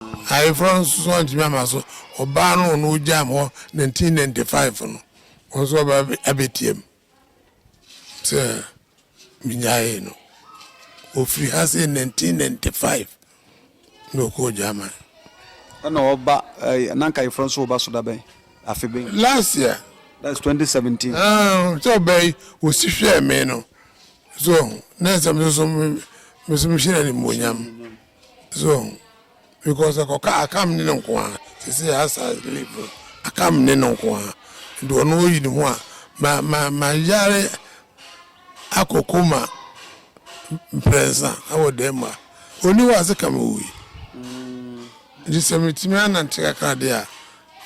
Ayeforɔ no nso antumi ama so, ɔbaa no ɔno ɔgyaa me hɔ 1995 no, ɔno nso aba abɛtiam sɛ menyaeɛ no. Ɔfiri ha sɛ 1995 na ɔkɔɔ German. Ɛna ɔba ɛɛ na nka Ayeforɔ nso ɔba so da bɛn? Afe bɛn? Last year. That is 2017. Ah, sɛ ɔbaa yi ɔsi hwɛɛ me no so na ɛsɛ me nso me nso mehyɛ no animuonyam. So because ɛkɔ ka akam ne no nko ara sese asa live akam ne no nko ara de ɔno oyi ne ho a ma ma ma yare akɔ koma mprɛnsa ɛwɔ dɛm ma oni hɔ ase kam owi nti sɛ metumi anante kakra de a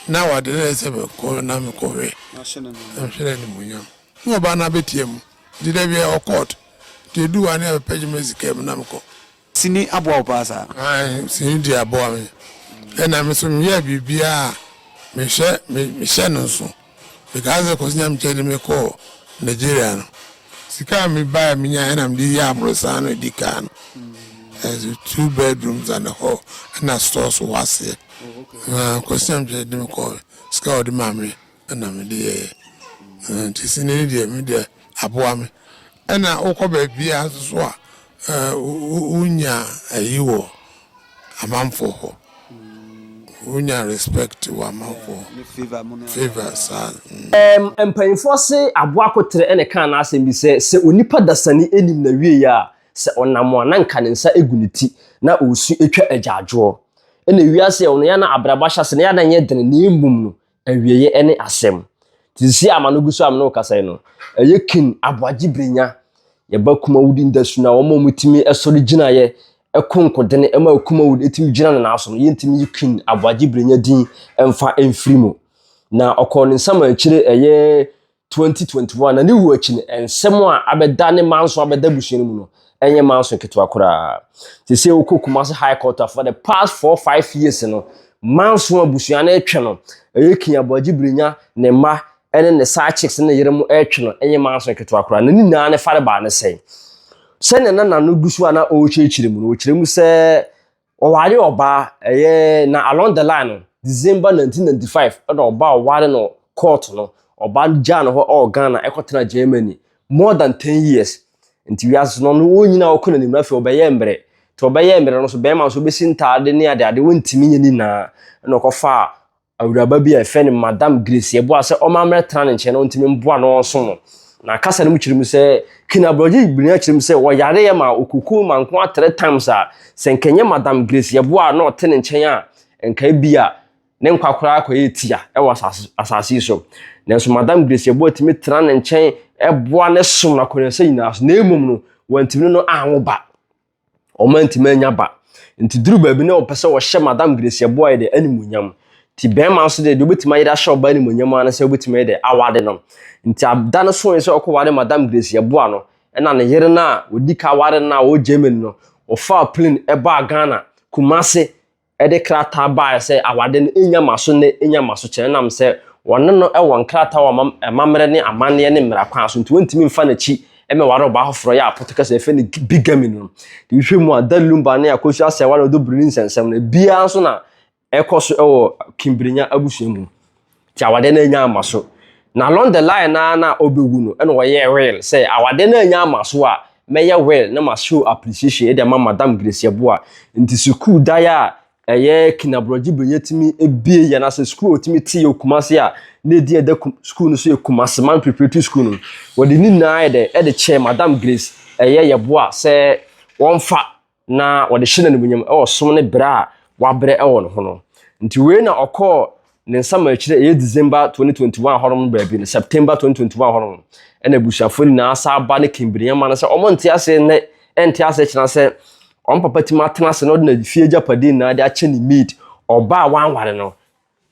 na wade na ɛsɛ bɛ kɔ na me kɔhwɛ nhwere ne mu nyam na ɔba na bɛtia mu nti dɛ bia ɔkɔɔt nti edu wa ne abɛpɛgye me sika mu na mekɔ Sini aboa wo paa saa. Ae sini deɛ aboa me ɛna me so meyɛɛ biribiaa mehwɛ mehyɛ no nso mekaa sɛ Kwasi Nyamkyɛ de me kɔɔ Nigeria no sika a me baɛ menya ɛna mede yɛɛ aborosan no ɛdi kaa no ɛso two bedrooms and a hall ɛna stores wɔ aseɛ Kwasi Nyamkyɛ de me kɔɔ sika a ɔde maa me na mede yɛeɛ nti sini no deɛ me deɛ aboa me ɛna wokɔ baabiaa nso so a wonya ayi wɔ amanfoɔ hɔ wonya respect wɔ amanfoɔ hɔ favour saa mm. Mpanyinfoɔ se aboa kotere na ɛkaa n'asɛm bi sɛ sɛ onipa dasani nim n'awieɛ a sɛ ɔnam a na nka ne nsa gu ne ti na ɔresu atwa agyaadwoɔ. Ɛna wiase a ɛwɔ no yɛ a na abrabɔ ahyɛase na yɛ a na ɛnyɛ dene na mmom no Awieeɛ ne asɛm. Nti seesei a m'ano gu so a me ne wo kasa yi no, ɛyɛ King Aboagye Birnya, yɛn ba Kumawudi Ndasu no a wɔn a wɔtumi sɔre gyinaeɛ ko nkodene ma Kumawudi tumi gyina ne nan so no, yɛntumi yi King Aboagye Birnya din mfa mfiri mu. Na ɔkɔɔ ne nsamankyire ɛyɛ 2021 na ne wu akyi no nsɛm a abɛda ne ma nso abɛda abusua no mu no ɛnyɛ ma nso ketewa koraa te sɛ wokɔ Kumasi High Court a for the past four five years no ma nso abusua no ɛtwe no ɛyɛ King Aboagye Birinya ne mma ɛne ne side chicks ne yere mu ɛtwe no ɛnyɛ ma nso ketewa koraa na ne nyinaa ne fare baa ne sɛn sɛnea na nano gu so a na ɔrekyerɛkyerɛ mu no ɔkyerɛ mu sɛ Ɔwaree ɔbaa, ɛyɛ na along the line no, December nineteen ninety five ɛna ɔbaa ɔwaree no court no, ɔbaa no gyaa no hɔ ɛwɔ Ghana ɛkɔ tenaa Germany more than ten years. Nti wiase no ɔno wɔn nyinaa ɔkɔ n'anim na afei ɔbɛyɛɛ mmerɛ. Nti ɔbɛyɛɛ mmerɛ no nso bɛrima nso ɔbɛsi ntaade ne adeade ɔntumi nyɛ ne nyinaa ɛna ɔkɔfaa Awuraba bi a yɛfrɛ no Madam Grace yɛ boa sɛ ɔma mmɛtra ne nkyɛn na ɔntumi mboa na ɔnsom no. Na kasa no mu kyerɛ mu sɛ, Ken aborɔgye benya kyerɛ mu sɛ wɔyareɛ ma ɔkuku mankoa three times a, sɛ nka ɛnyɛ Madam Grace yɛ boa a na ɔte ne nkyɛn a, nka ebia ne nkwa koraa kɔyɛ tia wɔ asase asase yi so. Nanso Madam Grace yɛ boa tumi tra ne nkyɛn boa ne som no akɔneasa nyinaa so, na mmom no, wantumi no no anwo ba. Wɔantumi annya ba. Nti duru baabi na wɔpɛ sɛ wɔhyɛ Madam Gracia Boyer de animuonyam. Nti bɛrima nso de, deɛ wobɛtumi ayɛ de ahyɛ ɔbaa animuonyam ara ne sɛ wobɛtumi ayɛ de aware no. Nti ada no soe sɛ wɔkɔware Madam Gracia Boyer no, ɛna ne yere no a wɔdi ka ware no a ɔwɔ Germany no, wɔfaa plane ɛbaa Ghana, Kumasi, de krataa baeɛ sɛ awadeɛ no nnya ma so nnɛ, nnya ma so kyɛ. Ɛnam sɛ wɔne no wɔ nkrataa wɔ amammerɛ ne amanneɛ ne mmara kwan so nti, wɔntumi mfa n'akyi mmɛware ɔbaa foforɔ yɛ a Portuguese yɛfrɛ no bigamy no. Wohwɛ mu a, Da Lumba ne Akosua Asɛwa ne Odobirni nsɛnsɛm no, ebiara nso na ɛkɔ so wɔ Kimbrinya abusua mu. Nti awadeɛ no anya ama so. Na along the line naa na ɔbɛwu no ɛna ɔyɛɛ will sɛ awadeɛ no anya ama so a mɛyɛ will na ma show appreciation de ama Madam Grace Yeboah. Nti sukuu dan a ɛyɛ Kina Brɔgye bere yɛtumi bue yɛ na sɛ sukuu a ɔtumi te yɛ wɔ Kumasi a na ɛdin a ɛda sukuu no so yɛ Kumasiman Preparatory School no wɔde ne nyinaa yɛ dɛ ɛde kyɛɛ Madam Grace ɛyɛ Yeboah sɛ wɔmfa na wɔde hyɛ no animuonyam wɔ som ne berɛ a wabrɛ wɔ ne ho no. Nti wei na ɔkɔɔ ne nsa ma akyire ɛyɛ December 2021 hɔ nom baabi no, September 2021 hɔ nom, ɛna abusuafoɔ nyinaa saa ba ne kimbirinya ma no sɛ wɔn nte ase nnɛ, ɛnte ase kyena sɛ wɔn papa tim atena ase na ɔde n'afie agyapadeɛ nyinaa de akyɛ ne maid, ɔba a wanware no,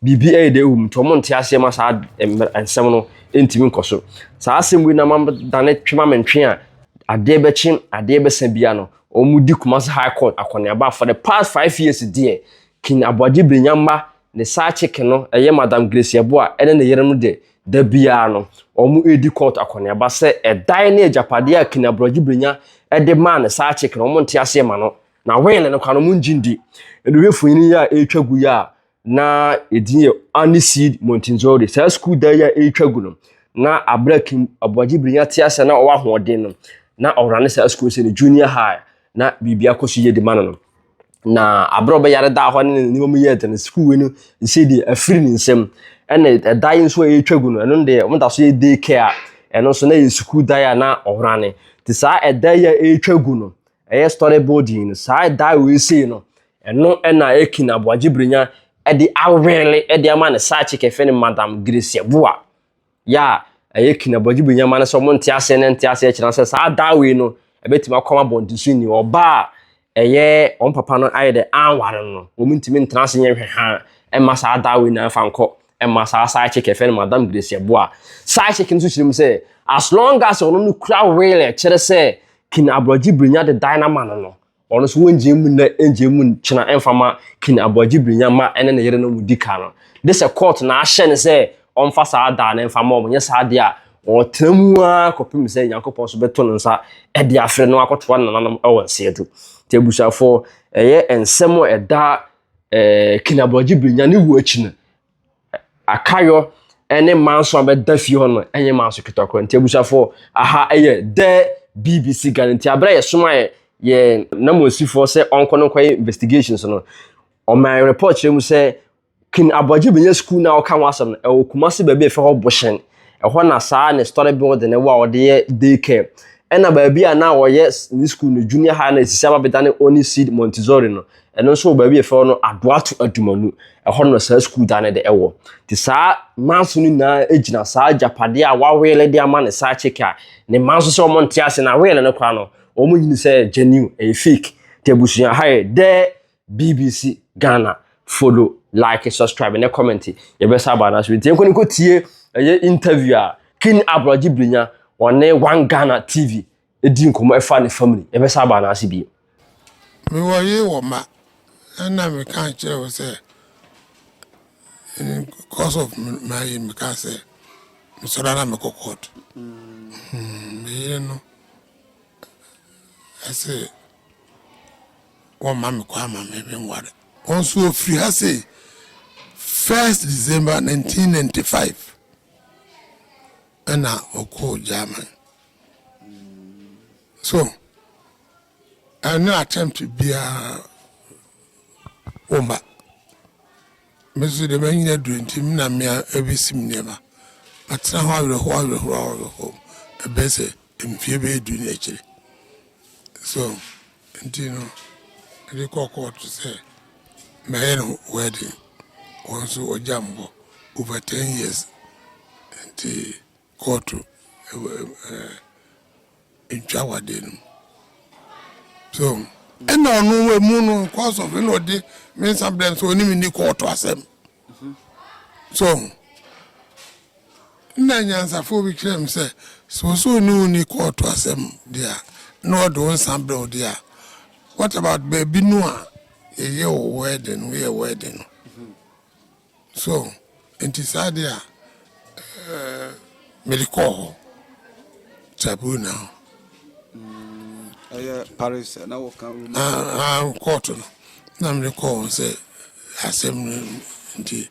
Biribi ayɛ dɛ wom nti wɔnte aseɛ ma saa mmerɛ nsɛm no ntumi nkɔ so. Saa asɛm wei na ama dane twe ma me ntwe a adeɛ bɛkye adeɛ bɛsa biara no wɔn di Kumasi High Court akɔneaba for the past five years deɛ King Aboagye Birinyamma ne side chick no ɛyɛ Madam Grace Yeboah ɛne ne yere no deɛ da biara no wɔn redi court akɔneaba sɛ ɛdan ne agyapadeɛ a King Aboagye Birinya ɛde maa ne side chick no wɔn nte aseɛ ma no na will no koraa no wɔn ngye ndi. Ɛno yɛ mfonini yi a ɛretwa gu yi a. na edin yɛ Aniseed Montinzori. Saa sukuu dan yi a ɛretwa gu no, na abira kim aboagye birinya te ase na ɔwɔ ahoɔden no, na ɔwura ne saa sukuu sɛ ne junior high, na biribi akɔ so yie de ma no no. Na abira a ɔbɛyare daa hɔ ne ne nneɛma mu yɛɛ den sukuu yi no nsi deɛ afiri ne nsam. Ɛna ɛda yi nso a ɛretwa gu no, ɛno deɛ wɔn da so yɛ day care a ɛno nso na yɛ sukuu dan a na ɔwura ne. Te saa ɛda yi a ɛretwa gu no, ɛyɛ story building no, saa ɛda a wɔresei no, Ɛno na Akin Aboagye Brenya de awele de ama ne side chick a yɛfrɛ no Madam Grecia Boa. Yɛ a ɛyɛ Akin Aboagye Brenya ma no sɛ wɔn nte aseɛ na nte aseɛ kyerɛ sɛ saa daa wei no ɛbɛtumi akɔ ama bɔntenso ni ɔbaa a ɛyɛ wɔn papa no ayɛ dɛ anware no wɔn ntumi ntena ase nyɛ hwɛhaa ɛmma saa daa wei na ɛfa nkɔ ɛmma saa side chick a yɛfrɛ no Madam Grecia Boa. Side chick no nso kyerɛ mu sɛ as long as ɔno no kura wele ɛkyerɛ sɛ Kin Aboagye Brenya de dan no ama no no Wɔn nso wonngyae mu nnɛ nngyae mu nkyena mmfa mma King Aboagye Birinya mma ne ne yerenom mudi ka no. Gye sɛ kɔɔto na ahyɛ no sɛ ɔmfa saa da no mfa mma wɔn, anyɛ saa deɛ a ɔɔtena mu ara kɔpem sɛ Nyankopɔn nso bɛto ne nsa de afrɛ no akɔtoa ne nananom wɔ nseɛ do. Nti abusuafoɔ, ɛyɛ nsɛm a ɛda King Aboagye Birinya ne wuo akyi no Akayɔ ne Manso a bɛda fie hɔ no nyɛ Manso ketewa koraa. Nti abusuafoɔ, aha yɛ The BBC Ghana. Nti aberɛ a yɛsoma yɛ yɛn nanmusifoɔ sɛ ɔnkɔ no nkɔyɛ investigations no, ɔmaa report kyerɛ mu sɛ King Aboagye Benya School no a wɔka ho asɛm no, ɛwɔ Kumasi baabi a yɛfrɛ hɔ Boshen. Ɛhɔ na saa ne story building no wɔ a wɔde yɛ daycare. Ɛna baabi a na wɔyɛ ne school no, junior high no a ɛsisi aba bɛdane Oni Seed Montessori no, Ɛno nso wɔ baabi yɛfrɛ no Adoato Adumanu. Ɛhɔ no na saa sukuu dan no de ɛwɔ. Nti saa manso no nyinaa gyina saa agyapadeɛ a waweele de ama ne side chick a ne mma nso sɛ wɔn nte ase na aweele no koraa no wɔn nyini sɛ genuine ɛyɛ fake. Nti abusua ha yɛ dɛ BBC Ghana follow like subscribe ne comment yɛbɛsa aba anaso nti yɛnkɔ ne nkɔ tie ɛyɛ interview a King Aborɔgye Brinya wɔne One Ghana TV di nkɔmmɔ ɛfa ne family yɛbɛsan aba anaase bio. Me wɔ yere wɔ mma na na me ka nkyerɛ wo sɛ cause of my yere me ka sɛ me sɔre na me kɔ court hmm, me yere no ɛsɛ wɔn ma me kɔ ama me me nware wɔn nso ofiri ha sɛ first december 1995 ɛna ɔkɔɔ german So ɛnyɛ attempt biara woma me nso deɛ manyina aduro nti me na mmea ɛbɛsi me nneɛma matena hɔ awerɛhoɔ awerɛhoɔ awerɛhoɔ ɛbɛyɛ sɛ mfie bɛyɛ du ne akyire so nti no ɛde kɔ kɔɔto sɛ mɛyɛ no wedding wɔn nso wɔgya me hɔ over ten years nti kɔɔto ntwa awadeɛ no mu so ɛna ɔno emu no cause of ɛna ɔde me nsa brɛ nso ɔne me ni kɔɔto asɛm so nna nyansafoɔ bi kyerɛ me sɛ sɛ ɔsɛ ɔne wo ni kɔɔto asɛm deɛ a na ɔde wo nsa brɛ wo deɛ a what about baabi no a yɛyɛ wɔ wedding no yɛ wedding no So, enti saa de a, mede kɔɔ hɔ, Taboo now. Ɛyɛ Paris na wɔka Roma. Ah, ah, kɔɔto no, na mede kɔɔ wɔn sɛ asɛm no nti,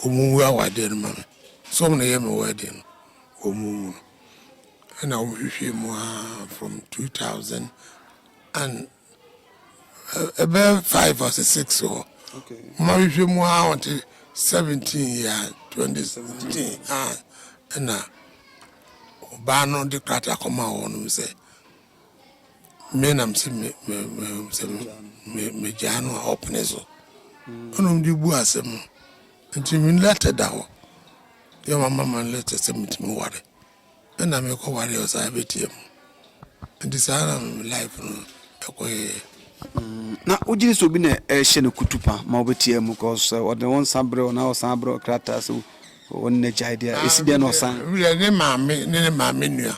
wɔn wu awadeɛ no ma me. So wɔn na ɛyɛ me wedding no, wɔn wu no. Ɛna wɔhwehwɛ mu aa from 2000 and ɛbɛyɛ five or six hɔ ma hwehwɛ mu a ɔte seventeen yɛ twenty seventeen a ɛna ɔbaa no de krataa kɔma wɔnom sɛ me nam sɛ megyaa no a ɔpene so ɛnom de bu asɛm no nti me lɛtɛ da hɔ yɛ mama ma lɛtɛ sɛ metumi ware Ɛna mekɔ wareɛ ɔsan abɛtia mu nti saa na life no ɛkɔyɛɛ. Mm, na wogyere sɛ obi na ɛhyɛ no kutupa ma wobɛtia mu cause eh, ɔde wo nsa berɛ na ɔsan aberɛ krataa sɛ wɔne no agyae deɛ ɛsi dɛn na ɔsan. Werɛ ne maame ne ne maame nua.